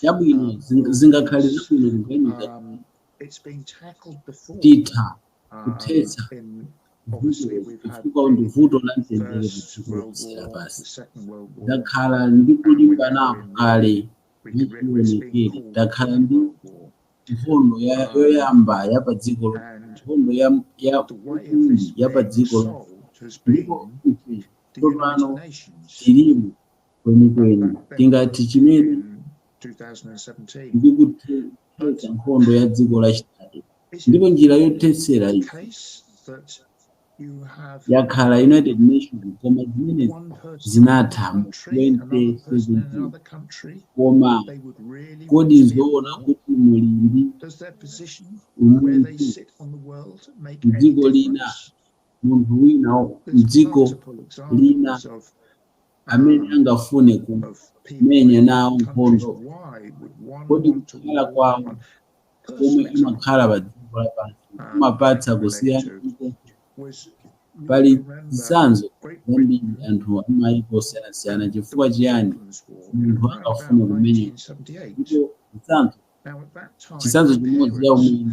chabwino zing- zingakhale zabwino kuganiza titha kuthetsa chifukwa ndi vuto la mtendere padziko lonse lapansi takhala ndi kulimbanako kale mwachionekere takhala ndi nkhondo ya- yoyamba ya padziko lo- nkhondo ya ya yachiwiri ya padziko lo- ndipo ife tsopano tilimo kwenikweni tingati chimene ndikuthetsa nkhondo ya dziko lachitatu ndipo njira yothetsera iyi yakhala united nations koma zimene zinatha mu 2017 koma kodi nzoona kuti muli ndi umunthu mdziko lina munthu wina mdziko lina amene angafune kumenya nawo nkhondo? Kodi kukhala kwawo komwe amakhala pa dziko lapansi kumapatsa kusiyana uko? Pali zitsanzo zambiri anthu amayiko osiyanasiyana. Chifukwa chiyani munthu angafune kumenya? Ndipo zitsanzo chitsanzo chimodzi cha umwini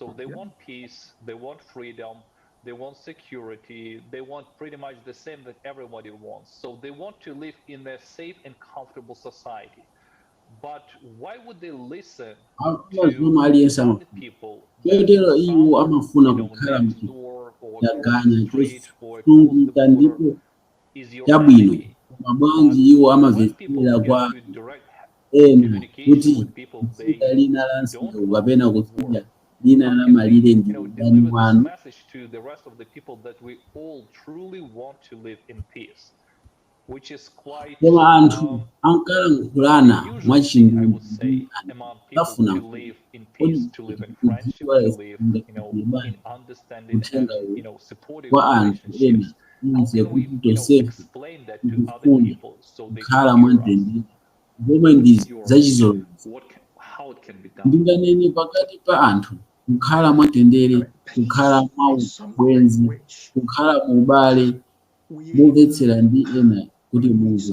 Yeah. They want peace, they want freedom, they want security, they want pretty much the same that everybody wants. They want to live in a safe and comfortable society. Why would they listen Hakuna to mfumu aliyense ama- other people chotero iwo amafuna kukhala mchitaganya chosungunuka ndipo chabwino koma bwanji iwo amamvetsera kwa ena kuti kutsidya lina la msewu kapena kutsidya lina la malire ndi mdani wanu koma anthu ankalankhulana mwachindunji ndi anthu safuna kudziwa uthenga uwu kwa anthu ena ize kuti tonsefe tikufuna kukhala mwamtendere zomwe ndi zachizolowezi ndinganene pakati pa anthu kukhala mwamtendere kukhala mwaubwenzi kukhala muubale momvetsera ndi ena kuti muze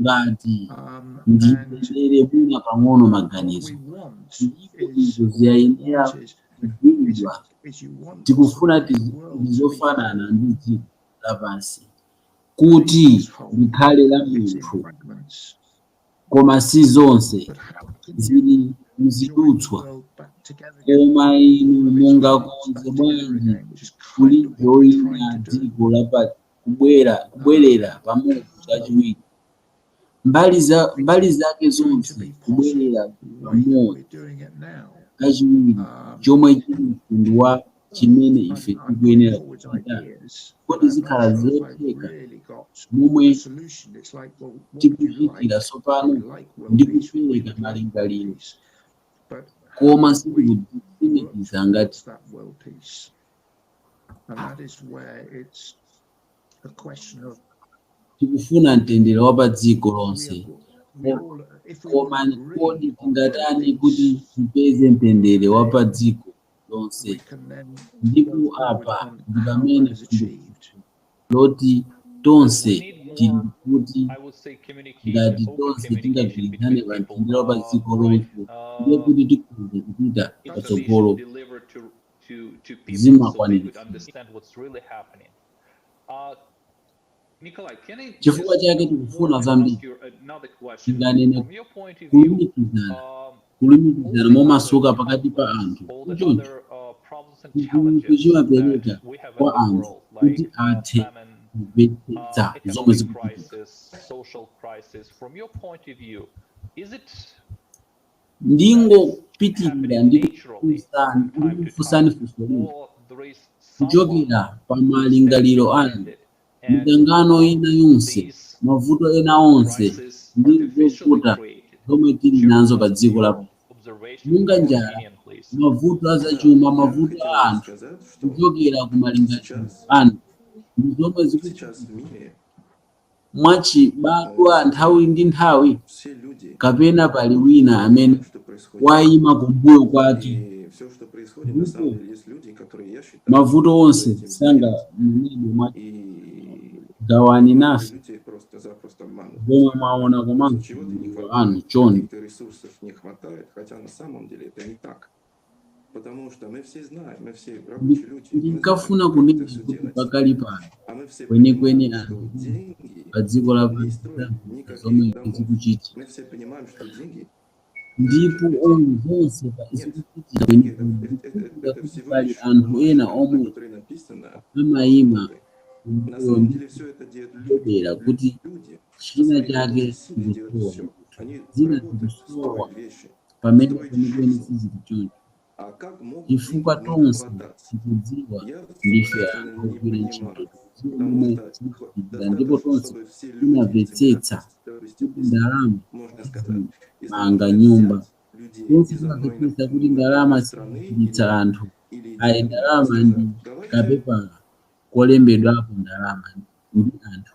ngati ndiyendere mwina pang'ono maganizo ndipo izo ziyayenera kudziwidwa tikufuna tidzofanana ndi dziko lapansi kuti likhale lamphumphu koma si zonse zili mzidutswa koma inu mungakonze bwanji kulijoyina dziko kubwera kubwerera pamodzi kachiwiri mbali zake zonse kubwerera pamodzi kachiwiri chomwe chili mtundu wa chimene ife tikuyenera kuchita kodi zikhala zotheka momwe tikuchitira tsopano ndi kupereka malingaliro koma sitikutsimikiza ngati And that is where it's a question of tikufuna mtendere wa pa dziko lonse we all, if we koma want to really kodi tingatani kuti tipeze mtendere wa pa dziko lonse we can then ndipo go forward apa on ndi how pamene that is fundu achieved. loti tonse We need tili more, kuti I would say, communication, ngati open tonse communication tingagwirizane between pa people. mtendere wa pa Uh, dziko right, lonse ndiye uh, kuti tikhoza kupita it's an issue patsogolo delivered to zimakwaniritsidwa. Chifukwa chake tikufuna zambiri tinganene kulumikizana, kulumikizana momasuka pakati pa anthu choncho chitukuko chimapereka kwa anthu kuti athe kumvetsetsa zomwe zikuchitika. ndingopitirira ndi kukufunsani funso lina kuchokera pa malingaliro anu mikangano ina yonse mavuto ena onse ndi zovuta zomwe tili nazo pa dziko lapansi monga njala mavuto a zachuma mavuto a anthu kuchokera ku malingaliro anu ndi zomwe zikuchitika mwachibadwa nthawi ndi nthawi, kapena pali wina amene wayima kumbuyo kwake, ndipo mavuto onse sanganenedwe mwa. Gawani nafe zomwe mwaona komanso malingaliro anu chonde. Ndinkafuna kunena kuti pakali pano kwenikweni anthu pa dziko lapansi sadziwa zomwe zikuchitika ndipo omwe zonse zikuchitika kwenikweni zikuchitika kuti pali anthu ena omwe amayima kumbuyo ndi kudedera kuti china chake chikusowa zina zikusowa pamene kwenikweni sizili choncho chifukwa tonse tikudziwa ndife anthu ogwira ntchito zinthu momwe zimachitikira ndipo tonse timamvetsetsa kuti ndalama sizimanga nyumba tonse timamvetsetsa kuti ndalama sizichiritsa anthu ayi ndalama ndi kapepala kolembedwapo ndalama ndi anthu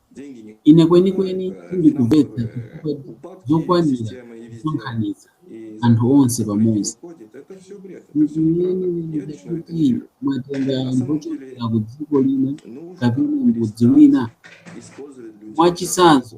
Ine kwenikweni sindikumvetsa chifukwa zokwanira kusonkhanitsa anthu onse pamodzi. Ndikuyerekeza kuti mwatenga anthu ochokera ku dziko lina kapena mudzi wina? Mwachisanzo,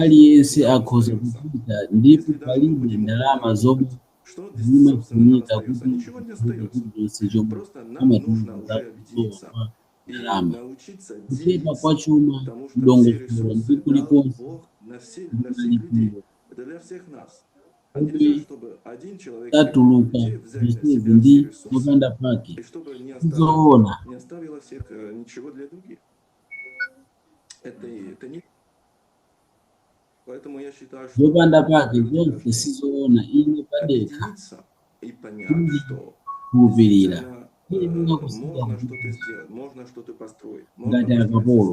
Aliyense akhoza kupita ndipo palibe ndalama zomwe zimafunika kuti mukhale chilichonse chomwe amatiuza za kusowa kwa ndalama, kuchepa kwa chuma m'dongosolo ndi kulikonse ndi malipiro omwe satuluka zonsezi ndi zopanda pake, si zoona. zopanda pake zonse sizoona ine pandekha kukhulupirira iyenera kusiya ngati akapolo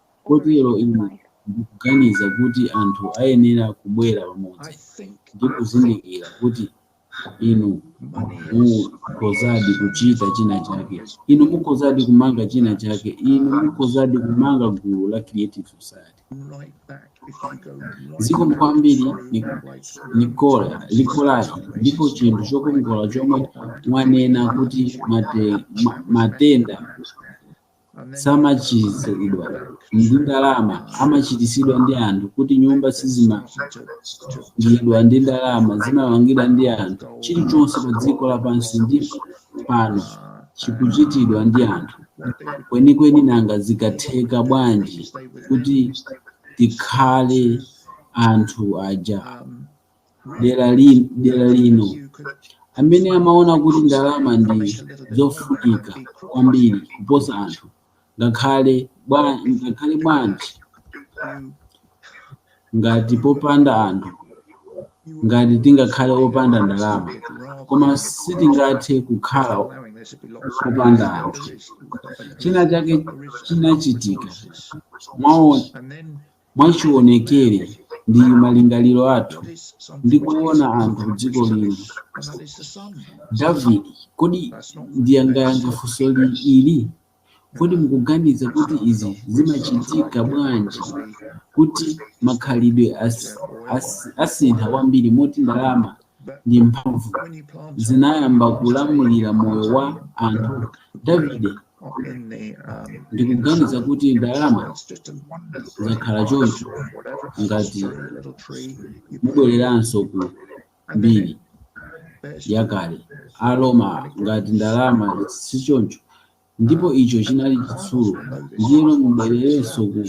Kotero ine ndikuganiza kuti anthu ayenera kubwera pamodzi ndi kuzindikira kuti inu mukhozadi kuchita china chake, inu mukhozadi kumanga china chake, inu mukhozadi kumanga gulu la Creative Society. Zikomo kwambiri ni- Nikola Nikolai ndipo chinthu chokongola chomwe mwanena kuti mate, ma, matenda samachiritsidwa ndi ndalama amachiritsidwa ndi anthu kuti nyumba sizimangidwa ndi ndalama zimamangidwa ndi anthu chilichonse pa dziko lapansi pano chikuchitidwa ndi anthu kwenikweni nanga zikatheka bwanji kuti tikhale anthu aja dera li- dera lino amene amaona kuti ndalama ndi zofunika kwambiri kuposa anthu ngakhale bwa- ngakhale bwanji ngati popanda anthu ngati tingakhale opanda ndalama koma sitingathe kukhala opanda anthu china chake chinachitika mwaona Mwachionekere, ndi malingaliro athu ndikuona anthu kudziko lino. David, kodi mungayankhe funso ili? Kodi mukuganiza kuti izi zimachitika bwanji kuti makhalidwe as, as, asintha kwambiri moti ndalama ndi mphamvu zinayamba kulamulira moyo wa anthu? Davide ndikuganiza kuti ndalama zakhala choncho ngati mubwereranso ku mbiri yakale aroma ngati ndalama si choncho ndipo icho chinali chitsulo ndiyeno mubwereranso ku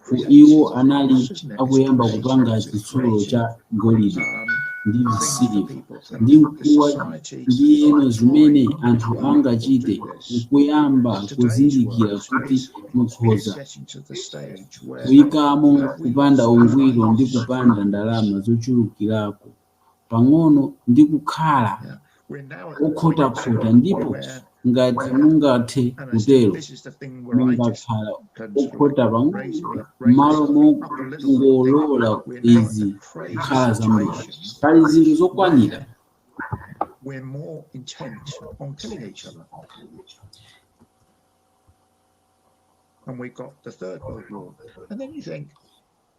ku- iwo anali kuyamba kupanga chitsulo cha golide ndi siliva ndi mkuwa ndiyeno zimene anthu angachite nkuyamba kuzindikira kuti mukhoza kuyikamo kupanda ungwiro ndi kupanga ndalama zochulukirako pang'ono ndi kukhala okhotakhota ndipo ngati mungathe kutero mungakhala okhota pang'ono m'malo mongolola izi kukhala zambiri pali zinthu zokwanira we're more intent on killing each other. And we got the Third World War. And then you think,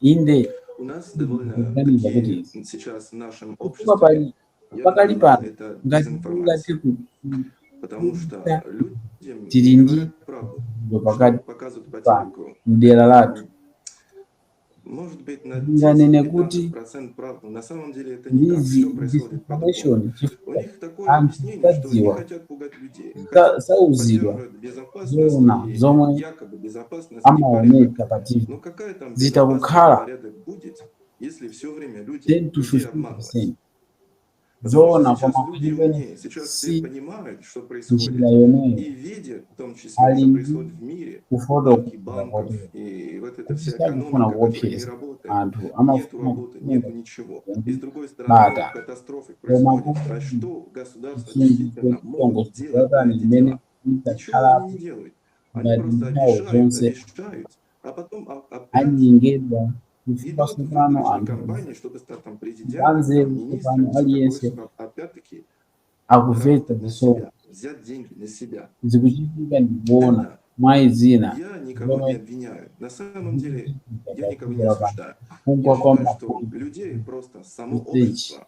Inde, ndikuganiza kuti chifukwa pali pakali pano ngati tingathe kuita tili ndi ndo pakati pano mdera lathu ndinganene kuti ndi disinformation chifukwa anthu sadziwa sa- sauzidwa zoona zomwe amaoneka pa TV zitakukhala 10 to 15% zoona kwa makuliveni si njira yomweyo ali ndi kufotokoza kuti sakufuna kuopseza anthu amafuna kusunga bata koma kuti chinthu chotani chimene idzakhalapo ngati nthawi zonse anyengedwa chifukwa tsopano anthu anzeru tsopano aliyense akumvetsa zomwe zikuchitika ndikuona mwa zina zomwe kugwa kwa mafumu msechi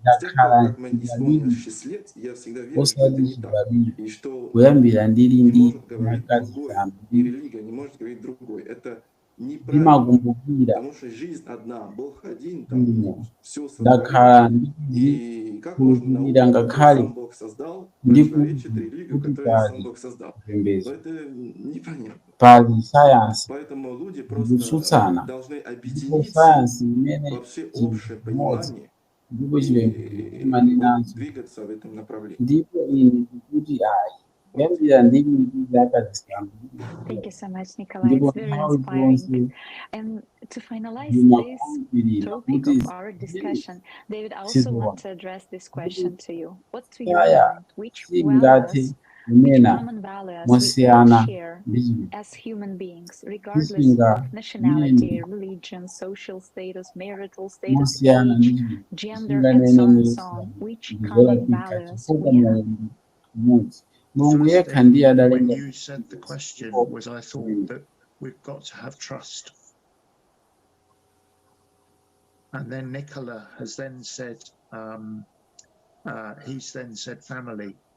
ndakhala ndili, osati chibadwire kuyambira ndili ndi zaka zisanu ndi, ndimakumbukira bwino. Ndakhala ndikukhulupirira ngakhale ndikuti pali chipembedzo. Pali sayansi zikutsutsana, ndipo sayansi imanena chinthu chimodzi ndipo chipembedzo chimanenanso, ndipo ine ndikuti ayi, kuyambira ndili ndi zaka zisanu ndi zitatu, ndipo nthawi zonse ndimakhulupirira kuti zimenezi sizoona. Ndipo sayansi singathe kunena mosiyana ndi sichinganene mosiyana ndi sichinganene ndizolakwika chifukwa moyo ndi umodzi mulungu yekha ndiye adalenga And then Nicola has then said, um, uh, he's then said family.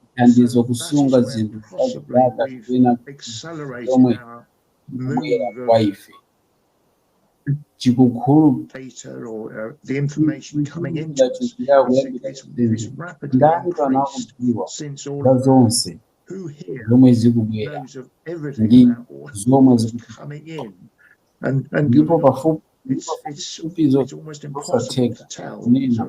kuthandiza kusunga zinthu kwa zaka kapena zomwe zikubwera kwa ife zikuchuluka chikuchitira kuyambira zinthu ndani pano akudziwa za zonse zomwe zikubwera ndi zomwe zikuchitika ndipo pafupipafupi ndi zosatheka kunena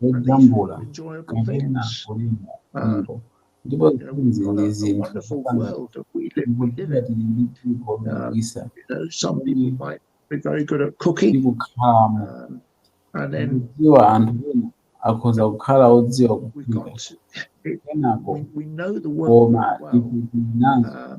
zojambula kapena kulemba nyimbo ndipo zimenezi ndi zinthu zopanda zikuchita tili ndi dziko lodabwitsa lomwe tikukhalamo ndikudziwa anthu ena akhoza kukhala odziwa kuphika kenako koma ife tili nazo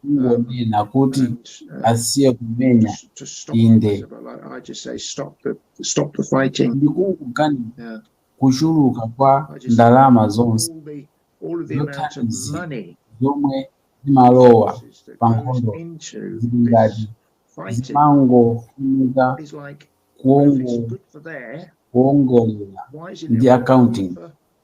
kungonena kuti asiye kumenya inde ndikungoganiza kuchuluka kwa ndalama zonse zothandiza zomwe zimalowa pa nkhondo zili ngati zimangofunika kuongo- kuongolera ndi accounting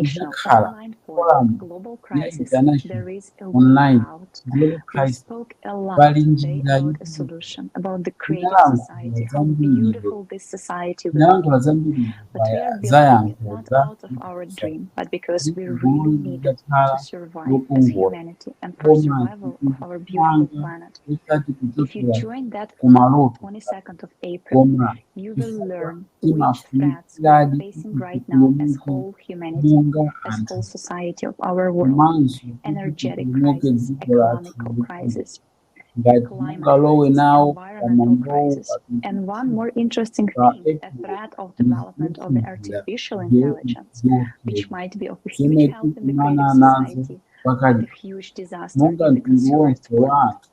Idzakhala foramu ya International Online Global Crisis. Pali njira yotuluka. Tinalankhula zambiri lero. Tinalankhula zambiri pa zayankho za gulu lidzakhala lokongola koma tikupanga osati kuchokera ku maloto koma imafunikiradi monga anthu komanso tituluke dziko lathu ngati mungalowe nawo pamwambowu zomwe tikumana nazo pakali pano monga mtundu wonse wa anthu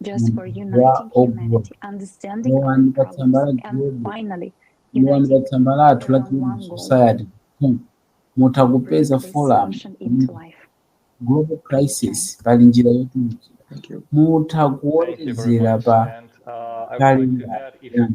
mumzinda ogula lowani pa tsamba la global lowani pa tsamba lathu la creative society com mutha kupeza forum global crisis pali njira yotulukira mutha kuwonjezera pa kalenda yanu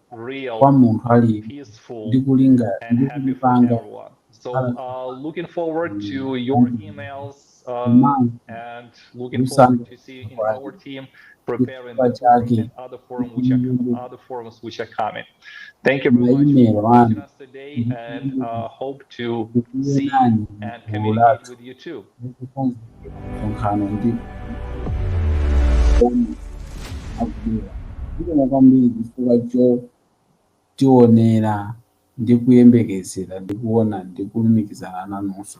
kwa munthu aliyense ndi kulinga ndi kulipanga kukhala chifukwa chake maimelo anu to see and communicate with you too. Zikomo kwambiri chifukwa chotionera ndi kuyembekezera ndi kuona ndi kulumikizana nanunso.